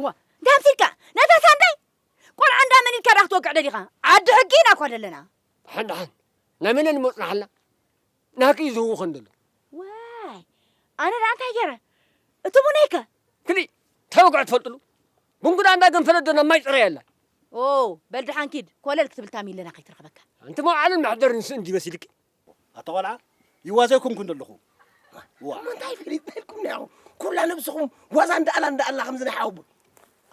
እዋ እንታይ ኣምሲልካ ነታ ሳንዳይ ቆልዓ እንዳ መን ኢልካ ድኣ ክትወቅዕ ደሊኻ ዓዲ ሕጊ ኢና እኳ ደለና። ድሓን ድሓን ናይ መን እኒ መጽናሕላ ናህኪ እዩ ዝህውኽ እንደሎ። ዋይ ኣነ ድኣ እንታይ ገይረ እቲ ሙነይ ከ። ክሊእ እንታይ ወግዐ ትፈልጥሉ ቡንጉዳ እንዳ ገንፈለት ዶ ናብ ማይ ጽረያ ኣላ። ኦው በል ድሓን ኪድ ኮለል ክትብል ታሚለና ከይትረኽበካ። ኣንቲ መውዓልን መሕደርን ስእን ድዩ መሲልኪ ኣታ ቆልዓ ይዋዘ ኣይኮንኩን ዘለኹ እሞ እንታይ ፍልይ በልኩም ኒኹ ኩላ ነብስኹም ዋዛ እንዳኣላ እንዳኣላ ከምዚ ናይ ሓወቦ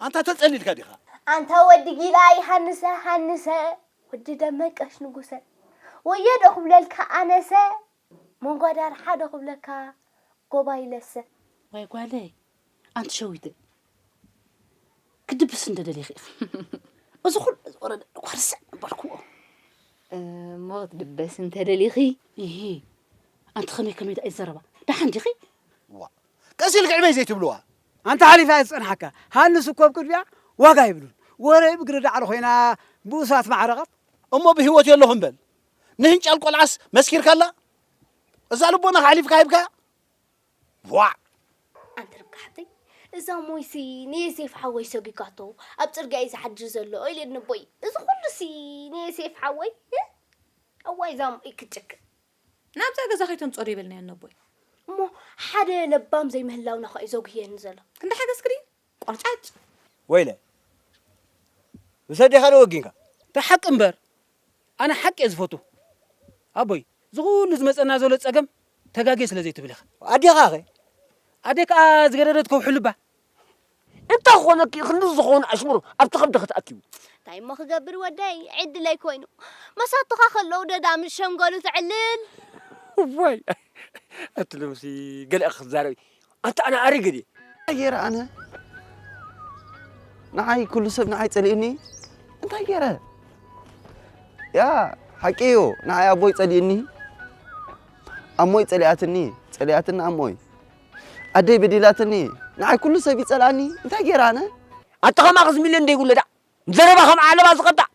ኣንታ ተጸሊልካ ዲኻ ኣንታ ወዲ ጊላ ይሃንሰ ሃንሰ ወዲ ደመቀሽ ንጉሰ ወዮ ዶ ክብለልካ ኣነሰ መንጓዳር ሓደ ክብለካ ጎባይ ለሰ ዋይ ጓለይ ኣንቲ ሸዊት ክድብስ እንደደሊኺ ኢኺ እዚ ኩሉ ዝወረደ እኳ ርስዕ በልክዎ እሞ ክትድበስ እንተደሊኺ ይሂ ኣንቲ ከመይ ከመይ ዳኣ ይዘረባ ደሓን ዲኺ ዋ ቀስ ኢልክ ዕበይ ዘይትብልዋ ኣንታ ሓሊፋ እየ ዝፀንሓካ ሃንስ እኮ ኣብ ቅድሚያ ዋጋ ይብሉን ወረ ብግሪ ዳዕሮ ኮይና ብኡሳት ማዕረቓት እሞ ብህይወት የለኹም በል ንህንጫል ቆልዓስ መስኪርካላ እዛ ልቦና ካሕሊፍካ ሂብካያ ቧዕ! ኣንቲ ርብቃ ሓብተይ፣ እዛ ሞይሲ ንየሴፍ ሓወይ ሰጒጋቶ ኣብ ጽርግያ እዩ ዝሓድር ዘሎ ኢለኒ ኣቦይ። እዚ ኹሉሲ ንየሴፍ ሓወይ? እ! እዋይ እዛ ሞይ ክትጭክን! ናብዛ ገዛ ከይተምጽኦ ዶ ይበልናዮ ንኣቦይ? እሞ ሓደ ለባም ዘይምህላውና ኸኣ'ዩ ዘጉህየኒ ዘሎ። ክንዲ ሓገዝኪ ድዩ ቆርጫጭ። ወይለ ምስ ኣዴኻ ዶ ወጊንካ? ብሓቂ እምበር ኣነ ሓቂ እየ ዝፈቱ ኣቦይ ዝኩሉ ዝመፀና ዘሎ ፀገም ተጋግየ ስለ ዘይትብል ኢካ። ኣዴኻ ከ? ኣደይ ከዓ ዝገደደት ከውሕሉ እባ። እንታይ ኾነኪ ክንዲ ዝኾነ ኣሽሙር ኣብቲ ከብድኺ ተኣኪቡ። እንታይ እሞ ክገብር ወደይ ዕድለይ ኮይኑ መሳቱኻ ከለዉ ደዳ ምስ ሸምገሉ ተዕልል። እዋይ ኣቲ ሎምሲ ገለ ክትዛረቢ ኣንተ ኣነ ኣሪግ እዲ እንታይ ገይረ ኣነ ንዓይ ኩሉ ሰብ ንዓይ ጸሊኡኒ እንታይ ገይረ ያ ሓቂ እዩ ንዓይ ኣቦይ ጸሊኡኒ ኣሞይ ጸሊኣትኒ ጸሊኣትኒ ኣሞይ ኣደይ በዲላትኒ ንዓይ ኩሉ ሰብ ይጸልኣኒ እንታይ ገይረ ኣነ ኣንተ ከማኽስ ሚልዮን ደይብሉ ዳእ ዘረባ ከም ዓለባ ዝቐጣዕ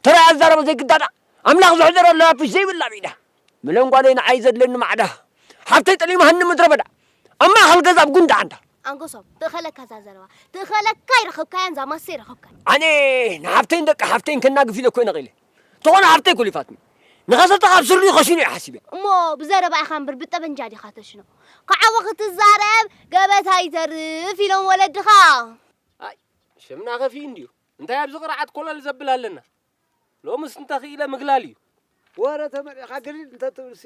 ተራይ ኣዛረቦ ዘይግዳዳ ኣምላኽ ዝሕደረላ ናፍሽ ዘይብላ ብኢዳ ምለን ጓለይ ንዓይ ዘድለኒ ማዕዳ ሓፍተይ ጠሊማሃኒ ምድረበዳ ኣብ ማእኸል ገዛ ኣብ ጉንዲ ዓንዳ ኣንጎሶም ትእኸለካ እዛ ዘረባ ትእኸለካ ኣይረኸብካያን እዛ ማሰ ይረኸብካ ኣነ ንሓፍተይን ደቂ ሓፍተይን ከናግፍ ኢለ እኮ ነቒለ ተኾነ ሓፍተይ ኩሊፋትኒ ንኸሰተ ካብ ስርኡ ከሽኑ እየ ሓሲበ እሞ ብዘረባ ኢኻ እምበር ብጠበንጃ ዲኻ ተሽኖ ክዓወ ክትዛረብ ገበታ ይተርፍ ኢሎም ወለድኻ ሽምና ከፊ እንድዩ እንታይ ኣብዚ ቅርዓት ኮለል ዘብል ኣለና? ሎምስ እንተኽኢለ ምግላል እዩ። ወረ ተመሊእኻ ግልል እንተትብልሲ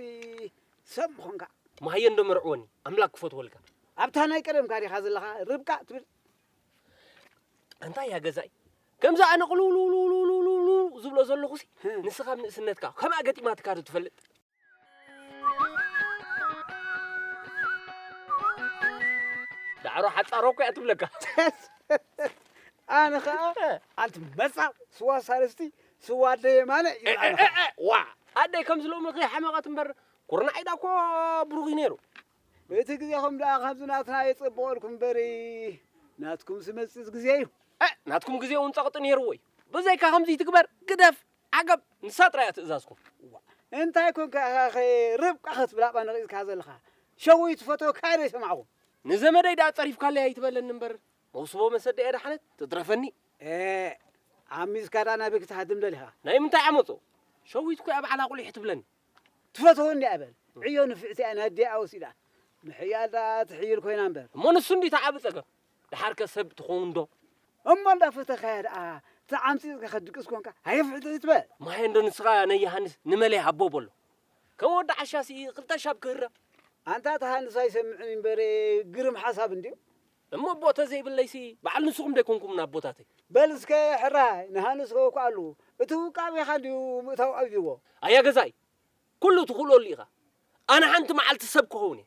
ሰብ ምኾንካ። ማህየ እንዶ መርዕወኒ ኣምላክ ክፈትወልካ። ኣብታ ናይ ቀደምካ ዲኻ ዘለኻ ርብቃ ትብል። ኣንታ እያ ገዛኢ ከምዚ ኣነ ቅልውልውልውልውልውልውልውልው ዝብሎ ዘለኹሲ ንስኻ ኣብ ንእስነትካ ከምኣ ገጢማትካ ዶ ትፈልጥ? ዳዕሮ ሓፃሮ እኮ እያ ትብለካ ኣነ ከዓ ኣንቲ መፃእ ስዋ ሳልስቲ ስዋ ኣደየ ማለ ዋ ኣደይ ከም ዝሎሚ ከይሓመቐት እምበር ኩርናዕ ኢዳ እኮ ብሩኽ እዩ ነይሩ እቲ ግዜኹም ደኣ ከምዚ ናትና የፀብቐልኩም በሪ ናትኩም ዝመፅእ ግዜ እዩ ናትኩም ግዜ እውን ፀቕጢ ነይርዎ እዩ ብዘይካ ከምዚ ትግበር ግደፍ ዓገብ! ንሳ ጥራይ እያ ትእዛዝኩም። ዋእ እንታይ ኮንካ ኢኻ ከ ርብቃ ክትብል ኣብኣ ነቒዝካ ዘለኻ? ሸዊት ትፈትዎ ክኣ ዘይሰማዕኹም። ንዘመደይ ድኣ ጸሪፍካለይ ኣይትበለኒ እምበር መውስቦ መሰደይ ኣድሓነት ትትረፈኒ። ኤእ ዓሚጽካ ድኣ ናበይ ክትሃድም ደሊኻ? ናይ ምንታይ ዓመጾ? ሸዊት እኮ'ያ ባዕላ ቁሊሕ ትብለኒ። ትፈትዎ እንድያ በል ዕዮ ንፍዕቲ እያ ንኣዲኣ ወሲዳ ምሕያል ድኣ ትሕይል ኮይና እምበር። እሞ ንሱ እንድዩ እቲ ዓቢ ጸገም። ደሓር ከ ሰብ ትኸውን ዶ? እሞ እንዳ ፈተኻያ ደኣ ተዓምጺጽካ ክትድቅስ ኮንካ ሃየፍሕትሒት በል። ማሄንዶ ንስኻ ነየሃንስ ንመለይ ሃቦ በሎ ከም ወዲ ዓሻ ስኢ ክልተ ሻብ ክህረም። ኣንታ እቲ ሃንስ ኣይሰምዕን እዩ እምበር ግርም ሓሳብ እንድዩ። እሞ ኣቦ ተዘይብለይሲ በዓል ንስኹም ዶ ኣይኮንኩምን ኣቦታተይ። በል እስከ ሕራይ ንሃንስ ከውክኣሉ እቲ ውቃቤኻ እንድዩ ምእታው ኣብዩዎ። ኣያ ገዛኢ ኩሉ ትኽእሎ ኣሉ ኢኻ ኣነ ሓንቲ መዓልቲ ሰብ ክኸውን እየ።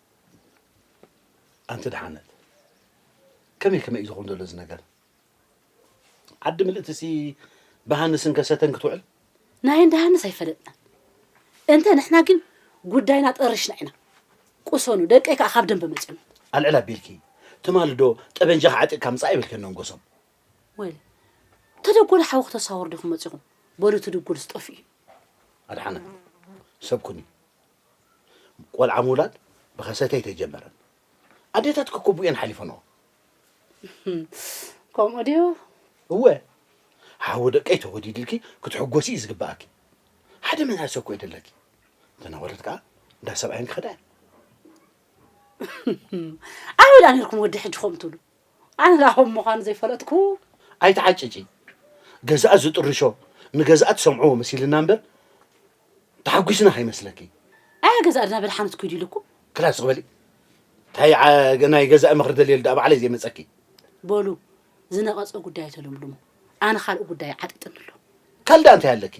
ኣንቲ ድሓነት ከመይ ከመይ እዩ ዝኸውን ዘሎ እዚ ነገር ዓዲ ምልእትሲ ብሃንስን ከሰተን ክትውዕል ናይ እንዳ ሃንስ ኣይፈለጥናን እንተ ንሕና ግን ጉዳይና ጠርሽና ኢና ቁሰኑ ደቀይ ከዓ ካብ ደንበ መፅኑ ኣልዕል ኣቢልኪ ትማሊ ዶ ጠበንጃ ክዓጢቕካ ምፃእ ይብልከን ንጎሶም ወል ተደጎለ ሓዊ ክተሳወር ዲኹም መፂኹም በሉ እቲ ድጉልስ ጠፍኡ እዩ ኣድሓነት ሰብ ኩኒ ቆልዓ ምውላድ ብኸሰተ ኣይተጀመረን። ኣዴታት ክኩብኡ እየን ሓሊፈንኦ። ከምኡ ድዩ? እወ፣ ሓዊ ደቀይ ተወዲድልኪ ክትሕጎሲ እዩ ዝግብኣኪ። ሓደ መናእሰይ እኮ እዩ ደለኪ። ተነወረት ከዓ እንዳ ሰብኣየን ክኸዳ እየን። ኣበይ ዳ ነርኩም ወዲ ሕጂ ከምኡ ትብሉ? ኣነ ዳ ከም ምዃኑ ዘይፈለጥኩ ኣይትዓጭጪ ገዛእ ዝጥርሾ ንገዛእ ትሰምዕዎ መሲልና እምበር ተሓጒስና ከይመስለኪ። ኣያ ገዛ ኣድና በድሓነት ኩይዱ ኢሉኩም። ክላ ስቕ በሊ እንታይ ዓ- ናይ ገዛኢ ምኽሪ ደልየሉ ደኣ ባዕለይ ዘይመጸኪ። በሉ ዝነቐጸ ጉዳይ ተለምልሙ ኣነ ካልእ ጉዳይ ዓጢጥኒ ኣሎ። ካል ደኣ እንታይ ኣለኪ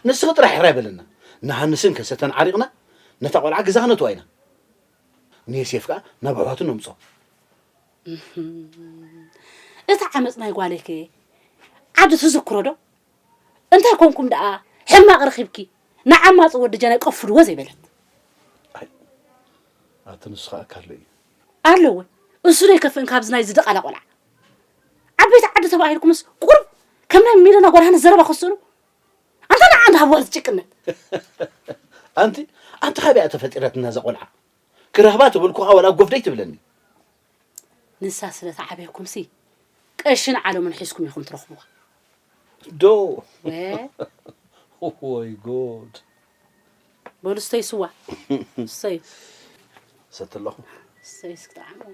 ንስኺ ጥራሕ ሕራይ በለና ንሃንስን ከሰተን ዓሪቕና ነታ ቆልዓ ገዛ ክነትዋ ኢና ንየሴፍ ከኣ ናብ ኣሕዋቱ ነምጾ እቲ ዓመጽ ናይ ጓለይ ከ ዓዲ ትዝክሮ ዶ? እንታይ ኮንኩም ደኣ ሕማቅ ረኪብኪ ንዓማጺ ወዲ ጀናይ ቀፍድዎ ዘይበለት። ኣይ ኣቲ ንሱ ከኣ እካ ኣሎ እዩ። ኣሎ ወይ እሱ ዶ ኣይከፍእን ካብዚ ናይዚ ድቓላ ቆልዓ። ዓበይቲ ዓዲ ተባሂልኩምስ ቁሩብ ከም ናይ ሚለና ጓል ሃንስ ዘረባ ክትስእኑ ኣንታ ንዓ እንዳ ሃብዋ ዝጭቅነት። ኣንቲ ኣንቲ ካበይ እያ ተፈጢረትና እዛ ቆልዓ ክረክባ ተበልኩካ ዋላ ጎፍደይ ትብለኒ። ንሳ ስለ ትዓብየኩምሲ ቀሽን ዓለሙን ሒዝኩም ኢኹም ትረኽቡዋ። ዶ ወይ ጉድ! በሉ ስተዩ ስዋ ስተዩ ሰቲ ኣለኹ ስተዩ እስኪ ጠዓምዎ።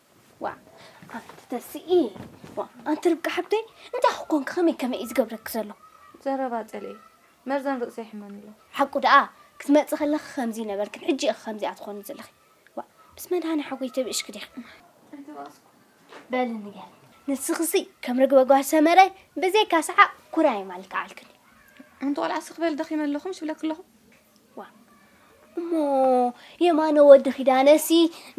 ዋእ ኣንቲ ተስኢ ዋእ ኣንቲ ርብቃ ሓብተይ እንታይ ክኮንኪ ከመይ ከመይ እዩ ዝገብረኪ ዘሎ ዘረባ ጸልኢ መርዘን ርእሲ ይሕመኒ ኣሎ ሓቁ ደኣ ክትመጽ ከለኺ ከምዚ ነበርክን ሕጂ ኢኺ ከምዚኣ ትኾኒ ዘለኺ ዋእ ምስ መድሃኒ ሓጎይ ተብእሽኪ ዲኺ ኣይተባእስኩ በሊ ንገር ንስኽሲ ከም ርግበ ጓል ሰመረ ብዘይካ ሰሓቕ ኩራይ ማልክዓልክን ኣንቲ ቆልዓ ስኽበል ደኺመ ኣለኹ ምስ ብለኪ ኣለኹ እሞ የማነ ወዲ ኪዳነሲ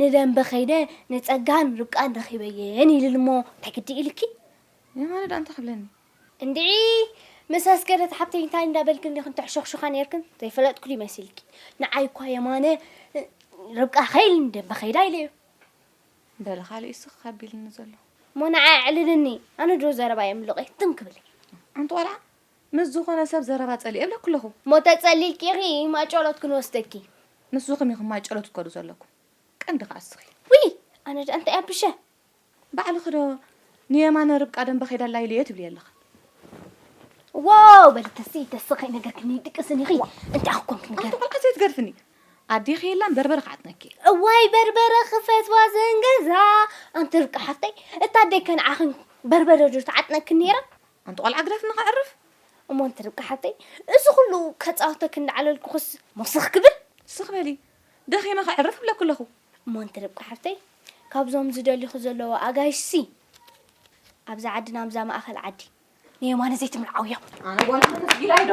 ንደንበ ከይደ ንጸጋን ርብቃን ረኺበየን ይልል እሞ እንታይ ግዲ ኢልኪ? የማነ ደኣ እንታይ ክብለኒ? እንድዒ ምስ ኣስገደት ሓብተይ እንታይ እንዳበልክን ዲኽን ተሕሾኽሹኻ ኔርክን? ዘይፈለጥኩ ድዩ መሲልኪ? ንዓይ እኳ የማነ ርብቃ ከይል ንደንበ ከይዳ ኢለዮ። በለ ካልእ እዩ ስኽ ኣቢልኒ ዘሎ። እሞ ንዓይ ኣዕልልኒ፣ ኣነ ድሮ ዘረባይ ኣምልቐ ትም ክብል። ሓንቲ ቆልዓ ምስ ዝኾነ ሰብ ዘረባ ጸሊኤ እብለኪ ኣለኹ። እሞ ተጸሊልኪ ኢኺ ማጨሎት ክንወስደኪ። ንስኹም ኢኹም ማጨሎት ክትከዱ ዘለኩም ቀንዲ ከኣ እስኺ። ውይ ኣነ ደኣ እንታይ ኣቢሸ። ባዕልኺ ዶ ንየማነ ርብቃ ደምበ ከይዳ ኣላ ኢለዮ ትብልዮ ኣለኺ። ዋው በሊ ተስኢ ተስኢ ከይነገርክኒ ድቅስኒ ኢኺ እንታይ ኣኺ ኮንኪ ንገሪ። ኣንቲ ቆልዓ ዘይትገድፍኒ ኣዴኺ የላን በርበረ ክዓጥነኪ እየ። እዋይ በርበረ ክፈትዋ ዘንገዛ ኣንቲ ርብቃ ሓፍተይ እታ ኣደይ ከንዓኺን በርበረ ዶ ትዓጥነኪ ነይራ። ኣንቲ ቆልዓ ግደፍኒ ከዕርፍ። እሞ ኣንቲ ርብቃ ሓብተይ እዚ ኩሉ ከጻውተኪ እንዳዓለልኩክስ እሞ ስኽ ክብል። ስኽ በሊ ደኺመ ከዕርፍ እብለኪ ኣለኹ። እሞ ኣንቲ ርብቃ ሓብተይ ካብዞም ዝደልዩኺ ዘለዉ ኣጋይሽሲ ኣብዛ ዓድና ኣብዛ ማእከል ዓዲ ንየማነ ዘይትምርዓውዮም። ኣነ ጓልኩም ተስጊላይዶ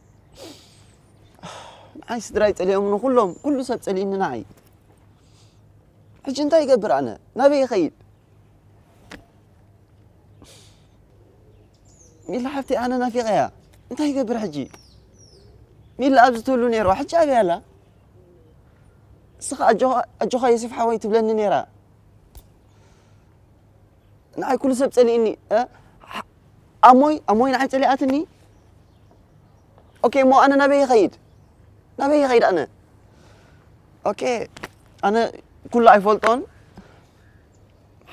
ንዓይ ስድራይ ጸሊኦምኒ ኩሎም ኩሉ ሰብ ጸሊእኒ ንዓይ ሕጂ እንታይ ይገብር ኣነ ናበይ ይኸይድ ሚላ ሓፍቲ ኣነ ናፊቐያ እንታይ ይገብር ሕጂ ሚላ ኣብዚ ትብሉ ነይሩ ሕጂ ኣበይ ኣላ ንስኻ ኣጆኻ ዮሴፍ ሓወይ ትብለኒ ነይራ ንዓይ ኩሉ ሰብ ጸሊእኒ እ ሕ- ኣሞይ ኣሞይ ንዓይ ጸሊኣትኒ ኦኬ እሞ ኣነ ናበይ ይኸይድ ናበይ ይኸይድ ኣነ ኦኬ ኣነ ኩሉ ኣይፈልጦን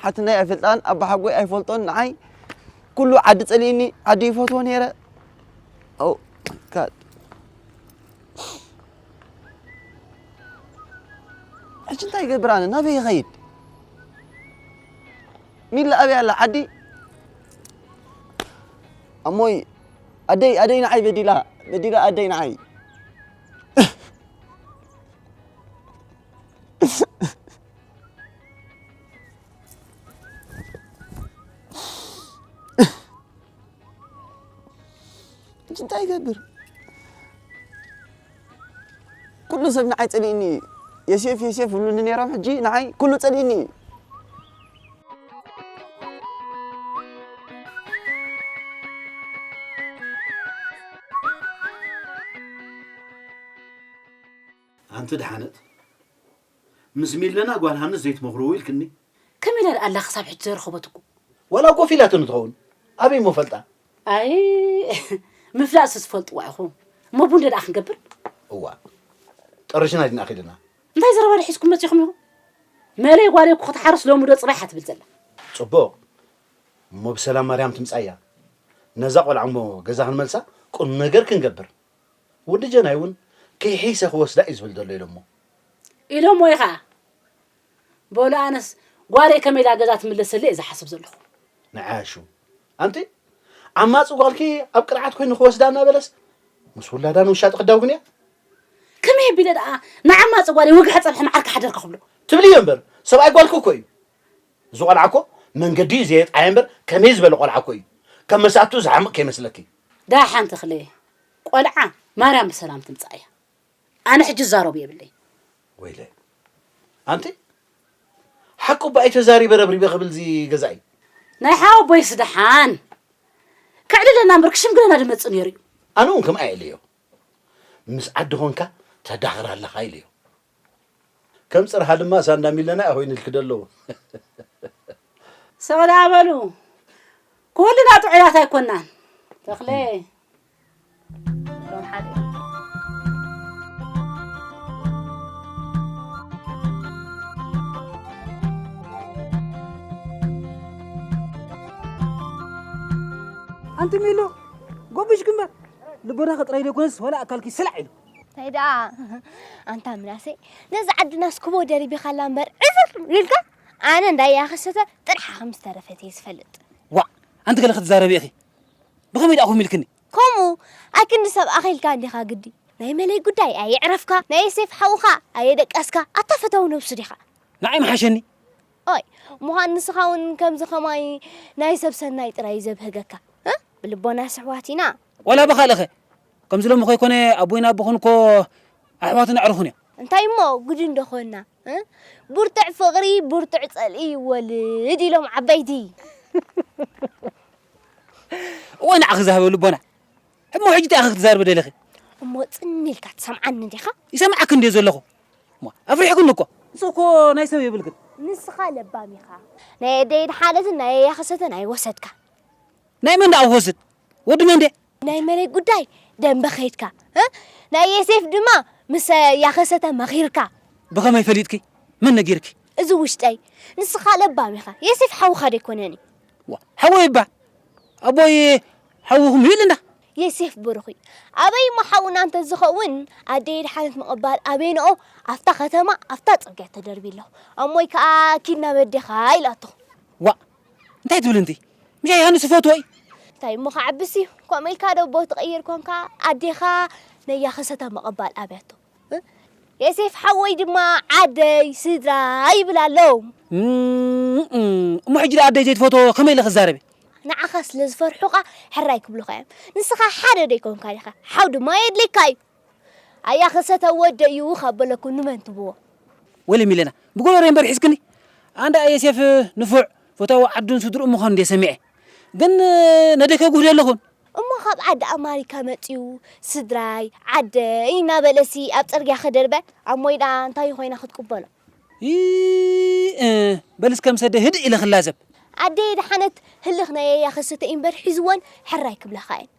ሓትነይ ኣይፈልጣን ኣባሓጎይ ኣይፈልጦን ንዓይ ኩሉ ዓዲ ጸሊእኒ ዓዲ ይፈትዎ ነይረ ኦ ጋድ ሕጂ እንታይ ይገብር ኣነ ናበይ ይኸይድ ሚላ ኣበይ ኣላ ዓዲ ኣሞይ ኣደይ ኣደይ ንዓይ በዲላ በዲላ ኣደይ ንዓይ ሕጂ እንታይ ይገብር ኩሉ ሰብ ንዓይ ጸሊእኒ እዩ የሴፍ የሴፍ ይብሉኒ ነይሮም ሕጂ ንዓይ ኩሉ ጸሊእኒ እዩ ኣንቲ ድሓነት ምስ ሚለና ጓል ሃንስ ዘይትመኽርዎ ኢልክኒ። ከመይ ኢላ ድኣ ኣላ ክሳብ ሕጂ ዘይረኸበትኩ። ዋላ ኮፍ ኢላትኒ ትኸውን ኣበይ እሞ ፈልጣ። ኣይ ምፍላጥሲ ትፈልጥዋ ኢኹም እሞ ቡን ደኣ ክንገብር። እዋእ ጠሪሽና ዲና ኺድና። እንታይ ዘረባ ዶ ሒዝኩም መጺኹም ኢኹም? መለይ ጓለይ እኮ ክትሓርስ ሎሚ ዶ ጽባሕ እያ ትብል ዘላ። ጽቡቕ እሞ ብሰላም ማርያም ትምጻእ እያ። ነዛ ቆልዓ እሞ ገዛ ክንመልሳ ቁም ነገር ክንገብር። ወዲ ጀናይ እውን ከይሐይሰ ክወስዳ እዩ ዝብል ዘሎ ኢሎሞ። ኢሎሞ እዩ ኸዓ በሉ ኣነስ ጓለይ ከመይ ኢላ ገዛ ትምለሰለይ እየ ዝሓስብ ዘለኹ። ንዓያሹ ኣንቲ ዓማፂ ጓልኪ ኣብ ቅርዓት ኮይኑ ክወስዳ እናበለስ ምስ ውላዳ ንውሻ ጥቅዳው ግን እያ። ከመይ ኣቢለ ደኣ ንዓማፂ ጓለይ ወግሐ ፀብሐ መዓር ክሓደርካ ክብሎ። ትብልዮ እምበር ሰብኣይ ጓልኪ እኮ እዩ። እዚ ቆልዓ እኮ መንገዲ እዩ ዘየጥዓየ እምበር ከመይ ዝበለ ቆልዓ እኮ እዩ። ከም መሳትኡ ዝሓምቅ ከይመስለኪ። ዳሓን ተኽለ ቆልዓ ማርያም ብሰላም ትምጻእ እያ ኣነ ሕጂ ዝዛረቦ የብለይን። ወይለይ ኣንቲ ሓቁ ባይ ተዛሪበ ረብሪበ ክብል እዚ ገዛኢ ናይ ሓወቦይስ ደሓን ከዕልለና እምበር ክሽምግለና ድመጽእ ነይሩ እዩ ኣነ እውን ከምኣ ኢለዮ ምስ ዓዲ ኾንካ ተዳኽር ኣለኻ ኢለዮ ከም ጽርሃ ድማ ሳንዳ ሚለናይ ኣኮይንልኪ ዶ ኣለዎ። ስቕ ደኣ በሉ ኩልና ጥዑያት ኣይኮናን ተኽለ ኣንቲ ሚሉ ጎብሽ ግንበር ልቦናኺ ጥራይ ዘይኮነስ ዋላ ኣካልኪ ስላዕ ኢሉ እንታይ ደኣ ኣንታ ምናሰይ ነዚ ዓድናስ ክቦ ደሪቢኻላ እምበር ዕፍር ኢልካ ኣነ እንዳያ ክሰተ ጥርሓ ከም ዝተረፈት እየ ዝፈልጥ ዋዕ ኣንቲ ገለ ክትዛረቢ ኢኺ ብኸመይ ደኣ ኮም ኢልክኒ ከምኡ ኣክንዲ ሰብ ኣኺልካ እንዲኻ ግዲ ናይ መለይ ጉዳይ ኣየዕረፍካ ናይ ዮሴፍ ሓውኻ ኣየደቀስካ ኣታ ፈታዊ ነብሱ ዲኻ ንዓይ መሓሸኒ ኦይ ምዃን ንስኻ እውን ከምዚ ከማይ ናይ ሰብ ሰናይ ጥራይ እዩ ዘብህገካ ብልቦና ስሕዋት ኢና ዋላ ብኻልእኸ ከምዚ ሎሚ ከይኮነ ኣቦይን ኣቦኽን እኮ ኣሕዋትን ኣዕሩኽን እዮም። እንታይ እሞ ጉድ እንዶ ኮና እ ብርቱዕ ፍቕሪ ብርቱዕ ጸልኢ ይወልድ ኢሎም ዓበይቲ። እወ ንዓኺ ዝሃበ ልቦና እሞ ሕጂ እንታይ ኢኺ ክትዛርቢ ደሊኺ? እሞ ጽን ኢልካ ትሰምዓኒ ዲኻ? ይሰምዓኪ እንድየ ዘለኹ እሞ ኣፍሪሕክኒ እኮ። ንሱ እኮ ናይ ሰብ የብል ግን ንስኻ ለባም ኢኻ። ናይ ኣደይ ደሓነትን ናይ ኣያኺ ሰተን ኣይወሰድካን። ናይ መን ደኣ ክወስድ ወዲ መን ድየ? ናይ መሬት ጉዳይ ደንበ ከይድካ እ ናይ የሴፍ ድማ ምስ ያኸሰተ መኺርካ ብኸመይ ፈሊጥኪ መን ነጊርኪ እዚ ውሽጠይ ንስኻ ለባም ኢኻ የሴፍ ሓውኻ ደይኮነን እዩ ዋ ሓወይ እባ ኣቦይ ሓውኹም እዩ ኢልና የሴፍ ብሩኽ እዩ ኣበይ እሞ ሓውና እንተዝኸውን ኣደይ ድሓነት ምቕባል ኣበይንኦ ኣብታ ከተማ ኣብታ ጽርግያ ተደርቢ ኣሎ ኣሞይ ከዓ ኪድ ናብ ኣዴኻ ኢላቶ ዋእ እንታይ ትብል እንዲ ምሻ ዮሃንስ ይፈትዎ እዩ እንታይ እሞ ክዓብስ እዩ ከምኡ ኢልካ ዶ ቦ ትቕይር ኮንካ ኣዴኻ ነያ ከሰታ ምቕባል ኣብያቶ የሴፍ ሓወይ ድማ ዓደይ ስድራ ይብል ኣሎ እሞ ሕጂ ዶ ኣደይ ዘይትፈትዎ ከመይ ኢለ ክዛረብ ንዓኻ ስለ ዝፈርሑኻ ሕራይ ክብሉኻ እዮም ንስኻ ሓደ ዶ ይኮንካ ዲኻ ሓው ድማ የድልየካ እዩ ኣያ ክሰተ ወደይ እዩ ካብ በለኩ ንመን ትብዎ። ወይለይ ሚለና ብጎሮሮይ እምበር ሒዝክኒ ኣንዳ የሴፍ ንፉዕ ፈታዊ ዓዱን ስድርኡን ምዃኑ እንድየ ሰሚዐ ግን ነደይ ከጉህደ ኣለኹን። እሞ ካብ ዓዲ ኣማሪካ መጺኡ ስድራይ ዓደይ እናበለሲ ኣብ ጽርግያ ክድርበ ኣብ ሞይ ድኣ እንታይ እዩ ኮይና ክትቅበሎ። ይእእ በል እስከ ምስ ኣደይ ህድእ ኢለ ክላዘብ። ኣደይ ደሓነት ህልኽ ናይ ኣያ ክሰተ እዩ እምበር ሒዝወን ሕራይ ክብላኻ እየን።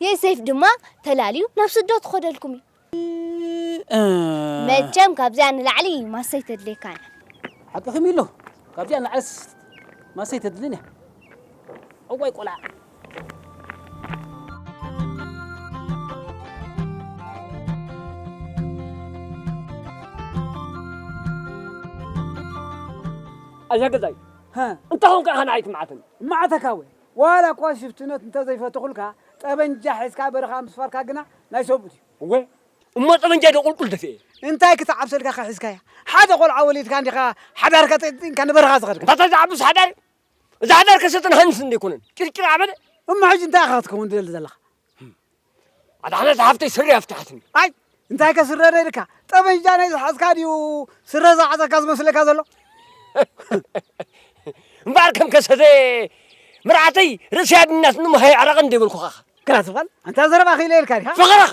ዮሴፍ ድማ ተላልዩ ናብ ስደት ክኸደልኩም እዩ። መቸም ካብዚኣ ንላዕሊ ማሰ ኣይተድልየካን እያ። ሓቅኺ ሚሉ፣ ካብዚኣ ንላዕሊስ ማሰ ኣይተድልን እያ። እዋይ ቆልዓ! ኣዛ ገዛይ እንታይ ኮንካ ኢኻ ንዓይ ትምዓተኒ? እምዓተካ ወይ ዋላ እኳ ሽፍትነት እንተዘይፈተኹልካ ጠበንጃ ሒዝካ በረኻ ምስፋርካ ግና ናይ ሰብኡት እዩ። እወ እሞ ጠበንጃይ ዶ ቁልቁል ደፊኤ? እንታይ ክትዓብሰ ኢልካ ከ ሒዝካያ? ሓደ ቆልዓ ወሊድካ እንዲኻ ሓዳርካ ጠይጢንካ ንበረኻ ዝኸድካ? ኣታ ዝዓብስ ሓዳር እዛ ሓዳር ከሰጥን ሃንስን ዘይኮነን ጭርጭር ዓበደ። እሞ ሕጂ እንታይ ኢኻ ክትከውን ትደሊ ዘለኻ? ኣድሓነት ሓፍተይ ስረ ኣፍትሓትኒ ኣይ እንታይ ከ ስረ ደልካ ጠበንጃ ናይ ዝሓዝካ ድዩ ስረ ዝዓፀካ ዝመስለካ ዘሎ እምበኣር ከም ከሰተ ምርዓተይ ርእሲ ኣድናትኒ መሃይ ዕረቕ እንደ ይበልኩኻ ግራ ዝበል ኣንታ ዘረባ ክኢለ ኢልካ ዲኻ ፍቕረኸ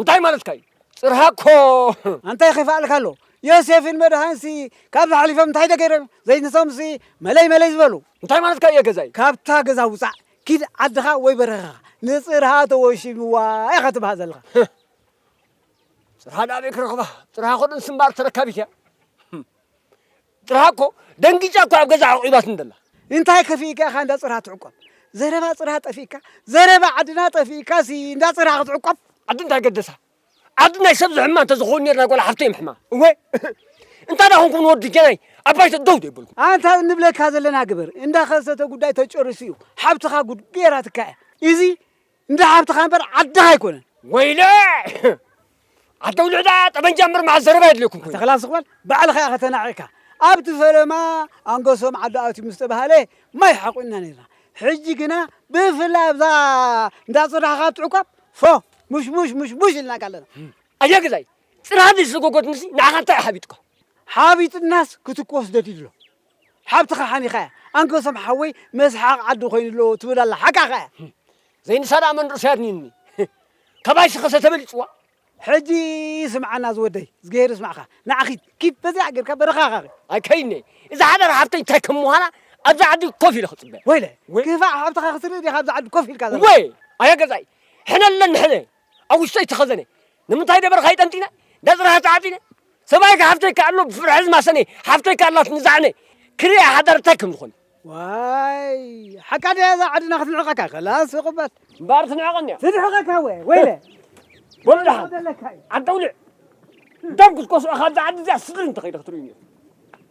እንታይ ማለትካ እዩ ጽርሃ እኮ ኣንታይ ኼፋኣልካ ኣሎ ዮሴፍን መድሃንሲ ካብዚ ሓሊፎም እንታይ ዶ ገይሮም ዘይንሶምሲ መለይ መለይ ዝበሉ እንታይ ማለትካ እየ ገዛይ ካብታ ገዛ ውጻእ ኪድ ዓድኻ ወይ በረኻኻ ንጽርሃ ተወሺምዋ ኢኻ ትብሃል ዘለኻ ጽርሃ ደኣ ኣበይ ክረኽባ ጽርሃ ኮዶ ንስምባር ተረካቢት እያ ጽርሃ እኮ ደንጊጻ እኮ ኣብ ገዛ ኣዕቚባትኒ ዘላ። እንታይ ከፊእካ ኢኻ እንዳ ጽርሃ ትዕቆብ? ዘረባ ጽርሃ ጠፊእካ? ዘረባ ዓድና ጠፊእካሲ እንዳ ጽርሃ ክትዕቆብ? ዓዲ እንታይ ገደሳ? ዓዲ ናይ ሰብ ዝሕማ እንተ ዝኾኑ ኔርና ጓል ሓፍተይ ምሕማ። እወ እንታይ ደኣ ኮንኩም ንወዲ ጀናይ ኣብ ባይቶ ደው ዘይበልኩም? ኣንታ እንብለካ ዘለና ግበር። እንዳ ከሰተ ጉዳይ ተጨሪሱ እዩ። ሓብትኻ ጉድ ገይራትካ እያ። እዚ እንዳ ሓብትኻ እምበር ዓድኻ ኣይኮነን። ወይለ ኣደ ውልዕዳ ጠበንጃ እምበር መዓል ዘረባ የድልየኩም ኮይኑ። ተኽላ ስቕበል ባዕልኻ ኢኻ ተናዒቕካ። ኣብቲ ፈለማ ኣንገሶም ዓዲ ኣትዩ ምስ ተባህለ ማይ ሓቑንና ነይርና። ሕጂ ግና ብፍላይ ኣብዛ እንዳ ጽርሓኻ ኣብቲ ዕቋብ ፎ ሙሽሙሽ ሙሽሙሽ ኢልናካ ኣለና። ኣየ ገዛይ ጽርሃ ዘይስጎጎትንሲ ንዓኻ እንታይ እዩ ሓቢጡካ? ሓቢጡናስ ክትኮስ ደልዩ ኣሎ። ሓብትኻ ሓኒኻያ ኣንከሶም ሓወይ መስሓቕ ዓዲ ኮይኑ ኣሎ ትብል ኣላ ሓቃ ከኣ ዘይንሳ ደኣ መንርሰያት ኒኒ ከባይ ሽኸሰ ተበሊጽዋ ሕጂ ስምዓና ዝወደይ ዝገሄር ስማዕካ ንዓኺ ኪድ በዚኣ ጌርካ በረኻኻኺ ኣይከይነ እዛ ሓዳር ሓብተይ እንታይ ከም ምዃና ኣብዚ ዓዲ ኮፍ ኢለ ክጽበ ወይለ ክፋእ ሓብትኻ ክትርኢ ዲኻ ኣብዚ ዓዲ ኮፍ ኢልካ ዘለ ወይ ኣያ ገዛይ ሕነ ኣለኒ ሕነ ኣብ ውሽጠይ ተኸዘነ ንምንታይ ደበርኻይ ጠንጢነ ደጽራሃ ተዓጢነ ሰብኣይካ ሓፍተይካ ኣሎ ብፍርሒ ዝማሰነ ሓፍተይካ ኣላት ንዛዕነ ክሪኣ ሓዳር እንታይ ከም ዝኾነ ዋይ ሓቃ ድያ እዛ ዓድና ክትንዕቐካ ከላስ ይቕበል እምበኣር ትንዕቐኒ እያ ትንዕቐካ ወ ወይለ በሉ ደሓን ዘለካ እዩ ዓደውልዕ ደም ክትኮስዑ ካብዛ ዓዲ እዚኣ ስድሪ እንተኸይደ ክትርእዩኒ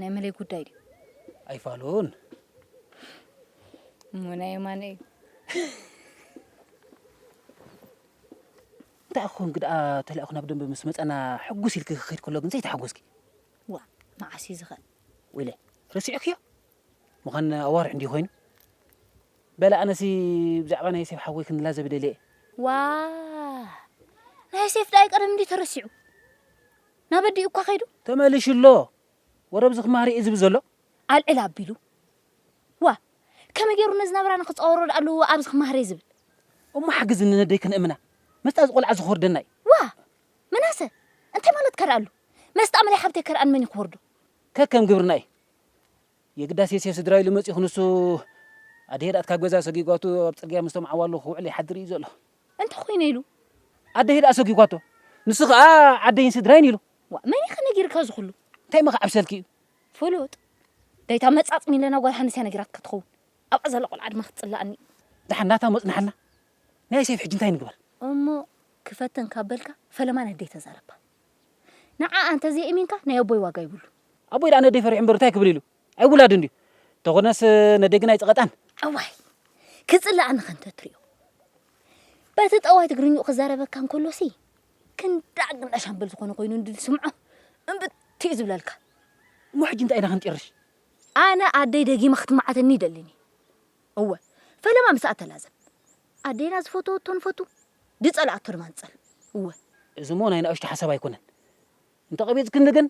ናይ መለይ ጉዳይ ድዩ? ኣይፋሉን እሞ ናይ የማነ እዩ። እንታይ ክኸውን ግድኣ ተላኢኹ ናብ ደንበ ምስ መጸና ሕጉስ ኢልኪ ክኸይድ ከሎ ግን ዘይተሓጎስኪ ዋ መዓስ እዩ ዝኸ ወይለ ረሲዕክዮ ምዃን ኣዋርሕ እንዲዩ ኮይኑ በላ ኣነሲ ብዛዕባ ናይ ሴፍ ሓወይ ክንላዘብ ደልየ ዋ ናይ ሴፍ ዳይ ቀደም እንዲዩ ተረሲዑ ናብ ኣዲኡ እኳ ከይዱ። ተመሊሹ ኣሎ። ወረ ብዝኽ ማሪ እዩ ዝብል ዘሎ። ኣልዕል ኣቢሉ። ዋእ! ከመይ ገይሩ ነዚ ናብራና ክጻወሮ ደኣ ኣሉ ኣብዝኽ ማህሬ ዝብል። እሞ ሓግዝኒ ነደይ ክንእምና። መስጣ እዚ ቆልዓ እዚ ክወርደና እዩ። ዋእ! ምናሰ! እንታይ ማለትካ ደኣ ኣሉ? መስጣ እምለይ ሓብተይ ከርኣን መን እዩ ክወርዶ? ከከም ግብርና እዩ። የግዳስ የሴፍ ስድራ ኢሉ መጺኡ ክንሱ ኣደሄድ ኣትካብ ገዛ ሰጊጓቱ ኣብ ጽርግያ ምስቶም ዓዋሉ ክውዕል ይሓድር ኢዩ ዘሎ። እንተኾይነ ኢሉ። ኣደሄድ ኣሰጊጓቶ ንሱ ከኣ ዓደይን ስድራይን ኢሉ። ዋእ መን ኢኻ ነጊርካ እዚ ኩሉ። እንታይ መኻ ዓብ ሰልኪ ኢዩ። ፍሉጥ ዳይታ መጻጽ ሚለና ጓል ሃንስ ኢያ ነጊራትካ ትኸውን ኣብኣ ዘላ ቆልዓ ድማ ክትጽላኣኒ ኢዩ። ደሓን ናታ ሞጽናሓልና ናይ ሴፍ ሕጂ እንታይ ንግበር። እሞ ክፈትን ካብ በልካ ፈለማ ነደይ ተዛረባ። ንዓኣ እንተ ዘይእሚንካ ናይ ኣቦይ ዋጋ ይብሉ። ኣቦይ ደኣ ነደይ ፈሪሑ እምበር እንታይ ክብል ኢሉ ኣይውላድን ድዩ እንተኾነስ ነደይ ግን ኣይጸቐጣን። ኣዋይ ክጽልኣኒ ከ እንተ ትሪኦ በቲ ጠዋይ ትግርኝኡ ክዛረበካ እንከሎሲ ክንዳዕ ግንዳ ሻምበል ዝኾነ ኮይኑ እንዲ ትስምዖ እምብት እዩ ዝብለልካ። እሞ ሕጂ እንታይ ኢና ክንጢርሽ? ኣነ ኣደይ ደጊመ ክትማዓተኒ ይደልኒ። እወ ፈለማ ምስኣ ተላዘብ። ኣዴና ዝፈተወቶ ንፈቱ ዝጸልኣቶ ድማ ንጸል። እወ። እዚሞ ናይ ናእሽቱ ሓሳብ ኣይኮነን። እንተቐቢጽክኒ ግን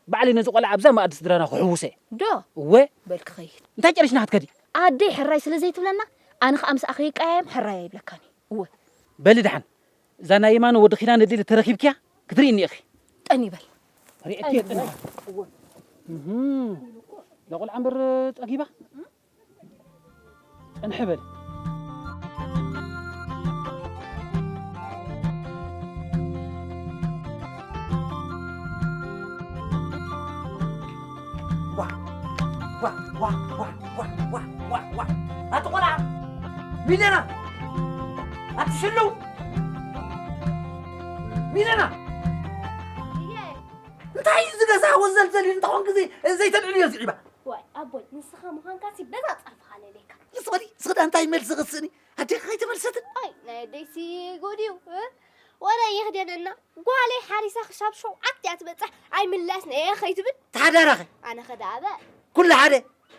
ባዕለይ ነዚ ቆልዓ ኣብዛ መኣዲ ስድራና ክሕውሶ'የ። ዶ? እወ። በል ክኸይድ። እንታይ ጨሪሽና ክትከዲ? ኣደይ ሕራይ ስለ ዘይትብለና ኣነ ከኣ ምስኣ ከይቀያየም ሕራይ ኣይብለካን'የ። እወ። በሊ ደሓን። እዛ ናይ የማነ ወዲ ኪዳነ ዲል እተረኪብክያ ክትርእይኒ ኢኺ። ጠኒ በል። ርእየኪ እየ ጠኒ። እወ። እህ እዛ ቆልዓ እምበር ጸጊባ። ጽንሕ በል። ኣቲ ቆልዓ ሚለና ኣቲ ሽሉው ሚለና እንታይ እዩ ዝገዛ ወዘልዘል እንተኾን ግዜ ዘይተልዕልዮ ዝዒባ ዋይ ኣቦይ ንስኻ ምዃንካሲ በዛ ጸርፍኻ ለልየካ ምስ በሊ ስኽዳ እንታይ መልሲ ኽስእኒ ኣዴኻ ከይተመልሰትን ኣይ ናይ ኣደይሲ ጉድ እዩ ወረ ይኽደነና ጓለይ ሓሪሳ ክሻብ ሸውዓት እያ ትበፅሕ ኣይምላስን እየ ከይትብል ተሓዳራኸ ኣነ ከደኣበ ኩሉ ሓደ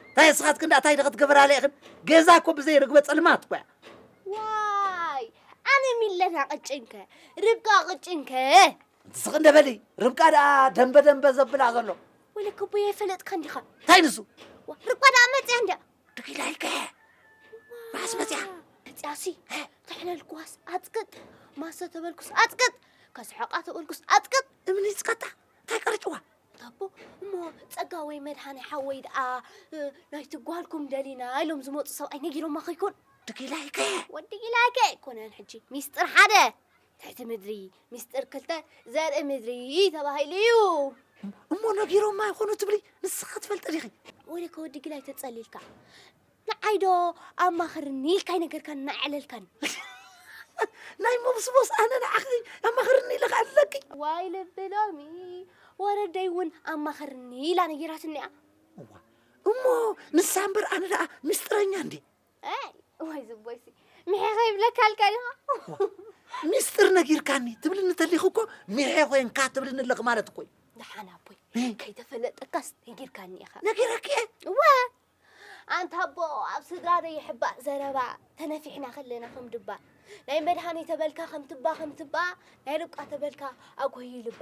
እንታይ እስኻትክን ዳእታይ ዶ ክትገብራ ኣለኢኽን ገዛ እኮ ብዘይ ርግበ ፀልማት እኮ እያ ዋይ ኣነ ሚለና ቅጭንከ ርብቃ ቅጭንከ ስቕ እንደ በሊ ርብቃ ደኣ ደንበ ደንበ ዘብላ ዘሎ ወይለ ክቡይ ኣይፈለጥካን ዲኻ እንታይ ንሱ ዋ፣ ርብቃ ደኣ መፅያ እንድያ ድኪላ ኢልከ ራስ መፅያ መፅያሲ ተሕለልኩዋስ ኣፅቅጥ ማሰ ተበልኩስ ኣፅቅጥ ከስሐቃ ተበልኩስ ኣፅቅጥ እምኒ ይፅቀጣ እንታይ ቀርጭዋ ታቦ እሞ ፀጋ ወይ መድሃኒ ሓወይ ደኣ እ፣ ናይቲ ጓልኩም ደሊና ኢሎም ዝመፁ ሰብኣይ ነጊሮማ ከይኮን ድኪላ ኢልከ ወዲ ኢላይከ ኣይኮነን ሕጂ ሚስጥር ሓደ ትሕቲ ምድሪ ሚስጥር ክልተ ዘርኢ ምድሪ ተባሂሉ እዩ እሞ ነጊሮማ ይኾኑ ትብሊ ንስኻ ትፈልጢ ዲኺ ወደ ከወዲ ግላይ ተጸሊልካ ንዓይዶ ኣማኽርኒ ኢልካ ይነገርካን እናዕለልካን ናይ መብስቦስ ኣነ ንዓኺ ኣማኽርኒ ኢለካ ኣለኪ ዋይ ልቢ ሎሚ ወረደይ እውን ኣማኽርኒ ኢላ ነጊራትኒ እያ እሞ ንሳ እምበር ኣነ ደኣ ምስጢረኛ እንዲ ወይ ዝቦይሲ ምሔ ከይብለካ ኣልካ ዲኻ ሚስጥር ነጊርካኒ ትብልኒ ተሊኹ እኮ ምሔ ኮንካ ትብልኒ ኣለኺ ማለት እኮ እዩ ደሓን ኣቦይ ከይተፈለጠካስ ነጊርካኒ ኢኻ ነጊረኪ እወ ኣንታ ኣቦ ኣብ ስድራ ዶ ይሕባእ ዘረባ ተነፊሕና ከለና ከም ድባ ናይ መድሃኒ ተበልካ ከም ትባ ከም ትባ ናይ ርብቃ ተበልካ ኣጎዩ ልባ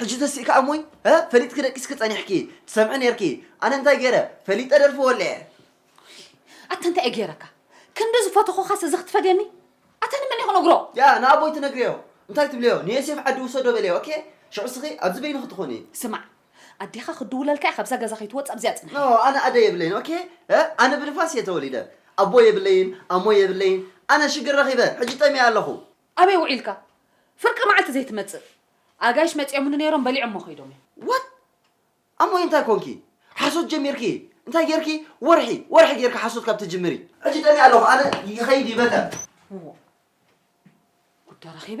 ሕጂ ተሲእካ እሞይ ፈሊጥኪ ደቂስኪ ፀኒሕኪ ትሰምዒ ነይርኪ ኣነ እንታይ ገይረ ፈሊጠ ደርፊ ወልዐ ኣታ እንታይ እዩ ገይረካ ክንዲ ዝፈተኹኻስ እዚ ክትፈድየኒ ኣታ ንመን እዩ ክነግሮ ያ ንኣቦይ ትነግርዮ እንታይ ትብልዮ ንዮሴፍ ዓዲ ውሰዶ በልዮ ኦኬ ሽዑ ስኺ ኣብዚ በይንኺ ትኾኒ ስማዕ ኣዴኻ ክትድውለልካ እያ ካብዛ ገዛ ከይትወጽእ ኣብዚኣ ጽናሕ። ኖ ኣነ ኣደ የብለይን ኦኬ ኣነ ብንፋስ እየ ተወሊደ ኣቦ የብለይን ኣሞ የብለይን ኣነ ሽግር ረኺበ ሕጂ ጠሚየ ኣለኹ። ኣበይ ውዒልካ ፍርቂ መዓልቲ ዘይትመጽእ። ኣጋይሽ መጺኦምኒ ነይሮም በሊዖሞ ከይዶም እዮም። What? ኣሞይ እንታይ ኮንኪ ሓሶት ጀሚርኪ እንታይ ጌርኪ ወርሒ ወርሒ ጌርኪ ሓሶት ካብ ትጅምሪ። ሕጂ ጠሚየ ኣለኹ ኣነ ይኸይድ ይበተን። እዎ ጉዳ ረኺበ።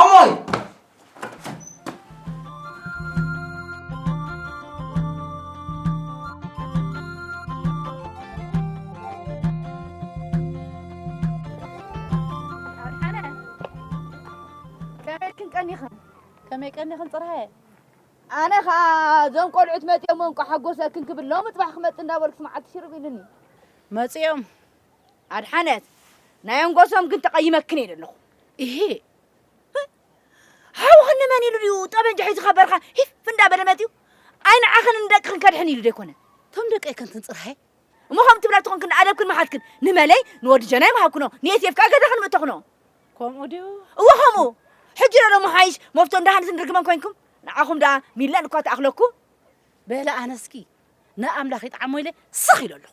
ኣሞይ ከመይክን ቀኒኽን ከመይ ቀኒኽን ፅርሃየ ኣነ ከዓ እዞም ቆልዑት መፅኦም እንቋ ሓጎሰክን ክብል ሎሚ ፅባሕ ክመፅእ እንዳበልኩስ መዓልቲ ሽርብ ኢሉኒ መፅኦም ኣድሓነት ናይ ኣንጎሶም ግን ተቐይመክን እየ ዘለኹ እሄ ሓውኽን ንመን ኢሉ ድዩ ጠበንጃ ሒዙ ካብ በረኻ ሂፍ እንዳበለ መፂኡ ኣይ ንዓኽን ንደቅኽን ከድሕን ኢሉ ደይኮነ እቶም ደቀይ ከንትን ፅርሃይ እሞ ከም ትብላ ትኾንክን ኣደብክን መሓትክን ንመለይ ንወዲ ጀናይ መሃብክኖ ንኤስኤፍ ከዓ ገዛኽን ምእተኽኖ ከምኡ ድዩ እወ ከምኡ ሕጂ ዶ መሓይሽ መፍቶ እንዳሃንስን ርግመን ኮይንኩም ንዓኹም ደኣ ሚላን እኳ ተኣኽለኩም በለ ኣነስኪ ንኣምላኽ ይጥዓሞ ኢለ ስኽ ኢለ ኣለኹ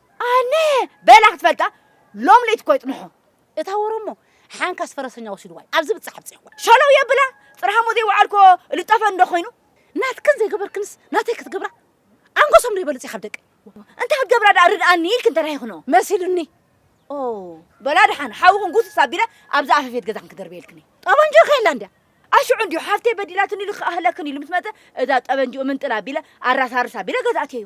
ኣነ በላ ክትፈልጣ ሎም ለይቲ እኮ ይጥንሖ እታ ወረሞ ሓንካስ ፈረሰኛ ወሲድዋ እዩ ኣብዚ ብጻሕ ብጽሕ እኳ ሸለው የብላ ጥርሃሞ ዘይወዓልኮ ልጠፈ እንዶ ኮይኑ ናትክን ዘይገበርክንስ ናተይ ክትገብራ ኣንጎሶም ዶ ይበልጽ ካብ ደቂ እንታይ ክትገብራ ደኣ ርድኣኒ ኢልክን ተራሂኽኖ መሲሉኒ ኦ በላ ደሓን ሓውኹን ጉስስ ኣቢለ ኣብዛ ኣፈፌት ገዛኽን ክደርበየልክን ጠበንጆ ከየላ እንድያ ኣሽዑ እንዲዩ ሓፍተይ በዲላትኒ ኢሉ ክኣህለክን ኢሉ ምስ መጸ እዛ ጠበንጅኡ ምንጥል ኣቢለ ኣራሳርስ ኣቢለ ገዛእትየዩ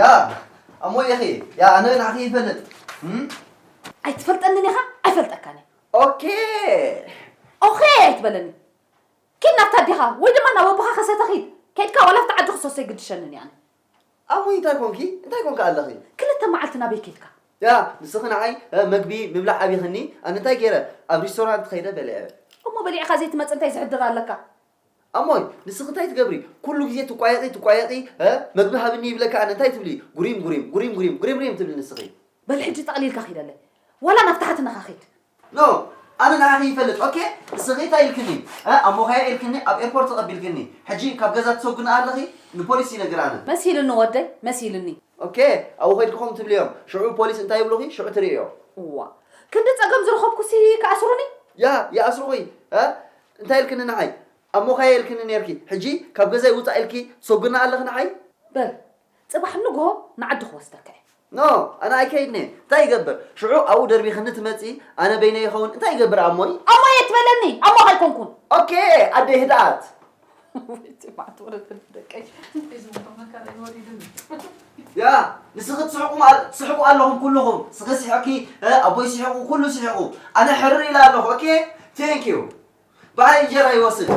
ያ ኣሞ የኺ ያ ኣነ ንዓኺ ይፈልጥ ኣይትፈልጠንን ኢኻ ኣይፈልጠካን እየ ኦኬ ኦኼ ኣይትበለኒ ኪድ ናብታ ኣዴኻ ወይ ድማ ናብ ኣቦኻ ከሰተ ኺድ ከይድካ ዋላ ኣብቲ ዓዲ ክሰሶ ኣይግድሸንን እየ ኣነ ኣሙይ እንታይ ኮንኪ እንታይ ኮንካ ኣለኺ ክልተ መዓልቲ ናበይ ከይድካ ያ ንስኺ ንዓይ መግቢ ምብላዕ ኣብይኽኒ ኣነ እንታይ ገይረ ኣብ ሪስቶራንት ኸይደ በልዐ እሞ በሊዕኻ ዘይትመፅእ እንታይ ዝሕድር ኣለካ ኣሞይ ንስኺ እንታይ ትገብሪ ኩሉ ግዜ ትቋየቒ ትቋየቒ እ መግቢ ሃብኒ ይብለኪ ኣነ እንታይ ትብሊ ጉሪም ጉሪም ጉሪም ጉሪም ጉሪም ሪም ትብሊ ንስኺ። በል ሕጂ ጠቕሊልካ ኺደለይ ዋላ ናብ ታሕትነኻ ኺድ። ኖ ኣነ ንዓኺ ይፈልጥ ኦኬ ንስኺ እንታይ ኢልክኒ እ ኣሞኻያ ኢልክኒ ኣብ ኤርፖርት ተቐቢልክኒ ሕጂ ካብ ገዛ ትሰጉና ኣለኺ ንፖሊስ ይነግር ኣነ። መሲልኒ ወደይ መሲልኒ። ኦኬ ኣብኡ ኸይድኪ ከምኡ ትብልዮም ሽዑ ፖሊስ እንታይ ይብሉኺ ሽዑ ትርእዮ። እዋ ክንዲ ጸገም ዝረኸብኩሲ ክኣስሩኒ። ያ ይኣስሩኺ እ እንታይ ኢልክኒ ንዓይ? ኣብ ሞኻየ ኢልክኒ ኔርኪ፣ ሕጂ ካብ ገዛይ ውጻእ ኢልኪ ትሰጉና ኣለኺ ንዓይ? በል ጽባሕ ንግሆ ንዓዲ ክወስደካ እየ። ኖ ኣነ ኣይከይድን'የ፣ እንታይ ይገብር ሽዑ ኣብኡ ደርቢኽኒ ትመጺ፣ ኣነ በይነይ ይኸውን፣ እንታይ ይገብር ኣሞይ? ኣሞይ ኣይትበለኒ፣ ኣሞኻ ኣይኮንኩን። ኦኬ ኣደይ ህድኣት። ንስኺ ትስሕቁ ኣለኹም ኩልኹም ስኺ ስሕቂ ኣቦይ ስሕቁ ኩሉ ስሕቁ ኣነ ሕርር ኢለ ኣለኹ ኦኬ ቴንክ ዩ በዓል እንጀራ ይወስድ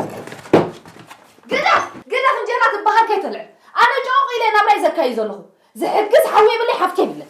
ግደፍ ግደፍ እንጀራ ትበሃል ከይተልዕል ኣነ ጨቑቕ ኢለ ናብራይ ዘካዩ ዘለኹ ዝሕግዝ ሓወይ የብለይ ሓፍቲ የብለይ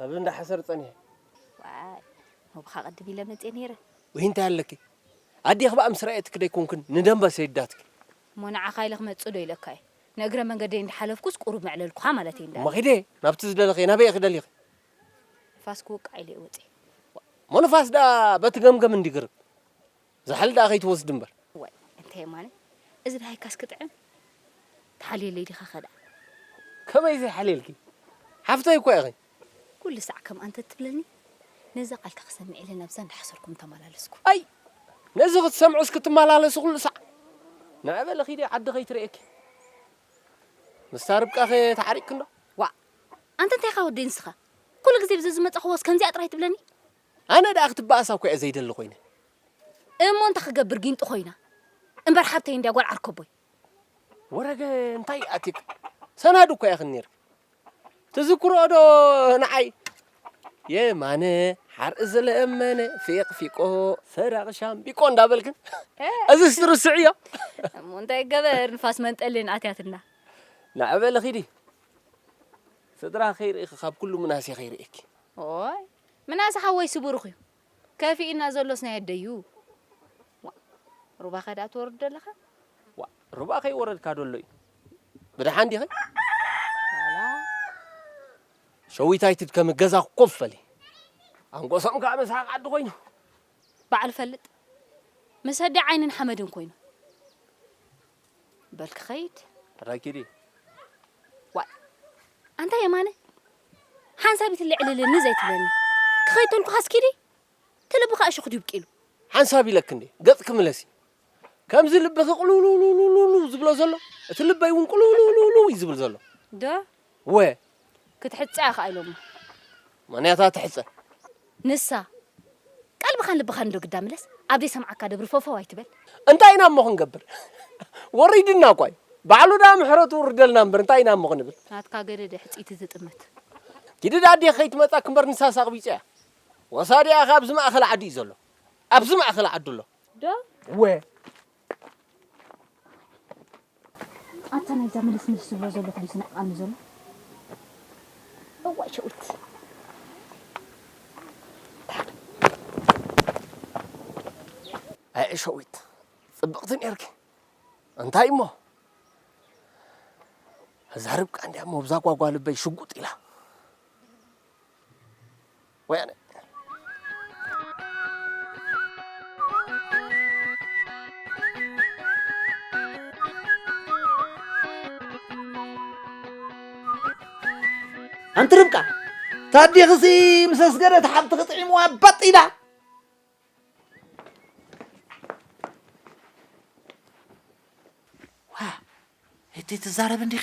ኣብ እንዳ ሓሰር ጸኒሐ። ዋይ ሞብኻ ቅድም ኢለ መጼ ነይረ። ወይ እንታይ ኣለኪ ኣዴኺ በኣ ምስ ረኣየትኪ ደይኮንክን ንደምበ ሰይዳትኪ። እሞ ንዓኻ ኢለ ክመጽእ ዶ ኢለካ'የ። ንእግረ መንገደይ እንዳ ሓለፍኩስ ቁሩብ መዕለልኩኻ ማለተይ እንዳ እሞ ኺደ ናብቲ ዝደለኽዮ ናበይ ኢኺ ደሊኺ። ንፋስ ክወቅዕ ኢለ'የ ወጺኤ። እሞ ንፋስ ደኣ በቲ ገምገም እንድዩ ግርም። ዛሕል ደኣ ከይትወስድ እምበር። ዋይ እንታይ የማነ እዚ ደሃይካስ ክጥዕም ትሓልየለይ ዲኻ ከደኣ። ከመይ ዘይሓልየልኪ ሓፍተይ እኳ ኢኺ። ኩሉ ሳዕ ከምኣ እንተ ትብለኒ ነዛ ቃልካ ክሰምዕ ኢለ ናብዛ እንዳሓሰርኩ ምተመላለስኩ። ኣይ ነዚ ክትሰምዕስ ክትመላለሲ ኩሉ ሳዕ ንዐ በሊ ኪዲ ዓዲ ከይትርእየኪ። ምስታ ርብቃኸ ተዓሪቅኪ እንዶ። ዋእ ኣንተ እንታይ ኢኻ ወደይ ንስኻ ኩሉ ግዜ ብዘዝመጻኹዎስ ከምዚኣ ጥራይ ትብለኒ። ኣነ ደኣ ክትበኣስ ኣኳ'የ ዘይደሊ ኮይነ። እሞ እንታይ ክገብር ጊንጢ ኮይና? እምበር ሓብተይ እንድያ ጓል ዓርከቦይ። ወረገ እንታይ ኣትዩኪ? ሰናዱ እኳ ኢኽን ኔርኪ። ትዝክርኦዶ ንዓይ? የማነ ሓርኢ ዝለመነ ፊቕ ፊቆ ሰራቒ ሻምቢቆ እንዳበልክን እዝስ ትርስዕዮ? እሞ እንታይ ገበር ንፋስ መንጠልን ኣትያትና። ንዕ በሊ ኺዲ ስድራ ከይርእኺ ካብ ኩሉ ምናሴ ከይርእየኪ። ኦይ ምናሰ ሓወይሲ ብሩኽ እዩ ከፊኡና ዘሎስ ናይ ኣደዩ ዋእ ሩባኸ ድኣ ትወርድ ዶ ኣለኻ። ዋእ ሩባ ከይወረድካ ዶ ኣሎ እዩ ብደሓን ዲኺ። ዋላ ሸዊታይ ትድከሚ ገዛ ኮፍ በሊ። ኣንጎሶም ከኣ መስሓቕ ዓዲ ኮይኑ። ባዕሉ ፈልጥ ምስ ኣደይ ዓይንን ሓመድን ኮይኑ በል ክኸይድ። ረኪዲ። ዋእ ኣንታ የማነ ሓንሳቢት ልዕልልኒ ዘይትብለኒ ክኸይድ ተልኩኻስ ኪዲ ትልብኻ እሾኽ ድዩ ብቂሉ። ሓንሳብ ኢለኪ እንዴ ገጽኪ ምለሲ ከምዚ ልብኺ ቁልውልውልውልውልው ዝብሎ ዘሎ እቲ ልበይ ውን ቁልውልውልውልው እዩ ዝብል ዘሎ። ዶ? እወ። ክትሕጸ ኢኻ ኢሎማ። ማንያታ ትሕጸ? ንሳ፣ ቀልብኻን ልብኻን እንዶ ግዳ ምለስ፣ ኣብ ዘይሰምዓካ ደብሪ ፎፎው ኣይትበል። እንታይ ኢና እሞ ክንገብር ወሪድና እኳ እዩ ባዕሉ ድኣ ምሕረቱ ውርደልና እምበር እንታይ ኢና እሞ ክንብል። ናትካ ገደደ ሕጽይቲ ዝጥምት። ጊድድ ኣዴኺ ከይትመጻኪ እምበር ንሳስ ኣቕቢጻ እያ ወሳዲኣ ከ ኣብዚ ማእከል ዓዲ እዩ ዘሎ ኣብዚ ማእከል ዓዲ ኣሎ። ዶ? ወ። ኣታ ናይዛ ምልስምልስ ዝብሎ ዘሎ ኮይኑ ስነዕቃኒ ዘሎ እዋይ ሸዊት ኣየ ሸዊት ፅብቕቲ ነርኪ እንታይ እሞ እዛ ርብቃ እንዲያ እሞ ብዛ ጓጓ ልበይ ሽጉጥ ኢላ ወያነ። ኣንቲ ርብቃ ታዲኽሲ ምስ ኣስገደት ሓብትኺ ጥዒምዋ ባጥ ኢላ እቲ ትዛረብ እንዲኺ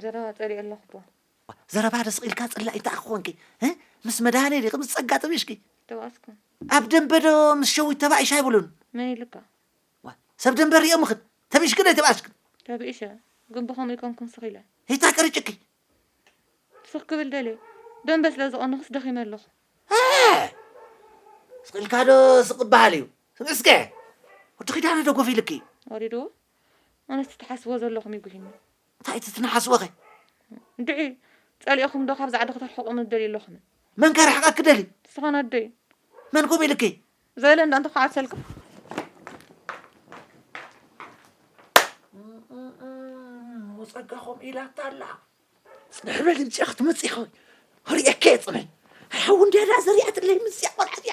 ዘለዋ ፀሊኦ ኣለኹ ዶ ዋእ ዘረባ ዶ ስቅ ኢልካ ጽላኢ እንተ ኣኮንኪ እ ምስ መድሃኔ ዲኺ ምስ ጸጋ ጥቢሽኪ ተባእስኩም ኣብ ደንበ ዶ ምስ ሸዊት ተባኢሽ ኣይብሉን መን ኢሉካ ዋእ ሰብ ደንበ ሪኦምኽን ተቢእሽክን ኣይተባእስክን ተብኢሸ ግን ብከምኡ ኣይኮንኩን ስኽ ኢለ ሂታ ቀሪጭኪ ስኽ ክብል ደልየ ደንበ ስለ ዝቀነኹስ ደኺመ ኣለኹ ኣእ ስቅ ኢልካ ዶ ስቅ ክበሃል እዩ ስምዒ እስከ ወዲ ኪዳነ ዶ ጎፊሉኪ እዩ ወሪድዎ ኣነስ እቲ ትሓስብዎ ዘለኹም እዩ ጉሂኒ እንታይ እቲ ትነሓስዎኸ? እንድዒ ጸሊኦኹም ዶ ካብዚ ዓዲ ክተርሕቑኒ ትደልዩ ኣለኹም? መን ከርሕቐኪ ደልዩ? ንስኻን ኣደይን። መን ከምኡ ኢሉኪ? ዘለ እንዳ እንተ ክዓብሰልካ። ጸጋኹም ኢላታ ኣላ ፅንሕ በል ምፅኣ ክትመፅእ ኸ ርኤከ ፅንሕ ኣይሓዊ እንድያ ደኣ ዘሪኣትለይ ምፅኣ ቆልዓ እያ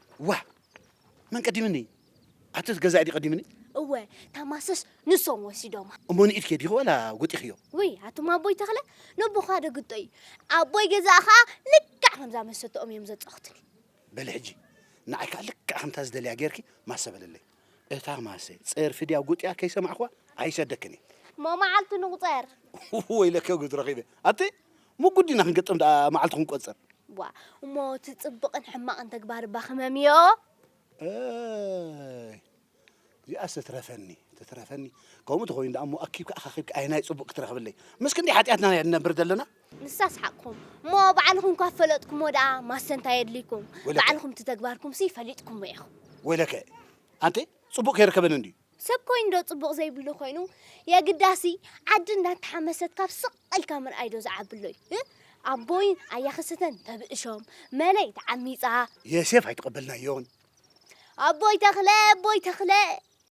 ዋእ መን ቀዲምኒ ኣቶስ ገዛኢ ድዩ ቀዲምኒ እወ እታ ማሰስ ንሶም ወሲዶማ እሞ ንኢድኪ ዲኺ ዋላ ጎጢኽዮ ውይ ኣቱም ኣቦይ ተኽለ ነቦኻ ደግጦ እዩ ኣቦይ ገዛእ ኸዓ ልክዕ ከምዛ መሰተኦም እዮም ዘፃኹትኒ በሊ ሕጂ ንዓይ ከዓ ልክዕ ከምታ ዝደልያ ጌርኪ ማሰ በለለይ እታ ማሰ ጸርፊ ድያ ጉጥያ ከይሰማዕክዋ ኣይሰደክን እየ። እሞ መዓልቲ ንቑጸር። ወይለከ ጉድ ረኺበ ኣቲ ምጉድ ዲና ክንገጥም ደኣ መዓልቲ ክንቆጽር። ዋ እሞ እቲ ጽብቕን ሕማቕን ተግባር እባ ክመምዮ። ኣይ እዚኣስ ትትረፈኒ ትትረፈኒ ከምኡ ተኾይኑ ደኣ እሞ ኣኪብካ ኣኻኺብካ ኣየናይ ጽቡቕ ክትረኽብለይ ምስ ክንደይ ሓጢኣትና ንነብር ዘለና። ንሳ ኣስሓቕኩም እሞ ባዕልኹም ካብ ፈለጥኩሞ ደኣ ማሰ እንታይ የድልይኩም? ወይለከ። ባዕልኹም እቲ ተግባርኩምሲ ፈሊጥኩሞ ኢኹም። ወይለከ ኣንተ ጽቡቕ ከይርከበኒ እንድዩ። ሰብ ኮይኑዶ ጽቡቕ ዘይብሉ ኮይኑ የግዳሲ ዓዲ እንዳተሓመሰት ካብ ስቕ ኢልካ ምርኣይዶ ዝዓብሎ'ዩ? እ ኣቦይን ኣያኽስትተን ተብእሾም፣ መለይ ተዓሚጻ፣ ዮሴፍ ኣይተቐበልናዮን። ኣቦይ ተኽለ ኣቦይ ተኽለ!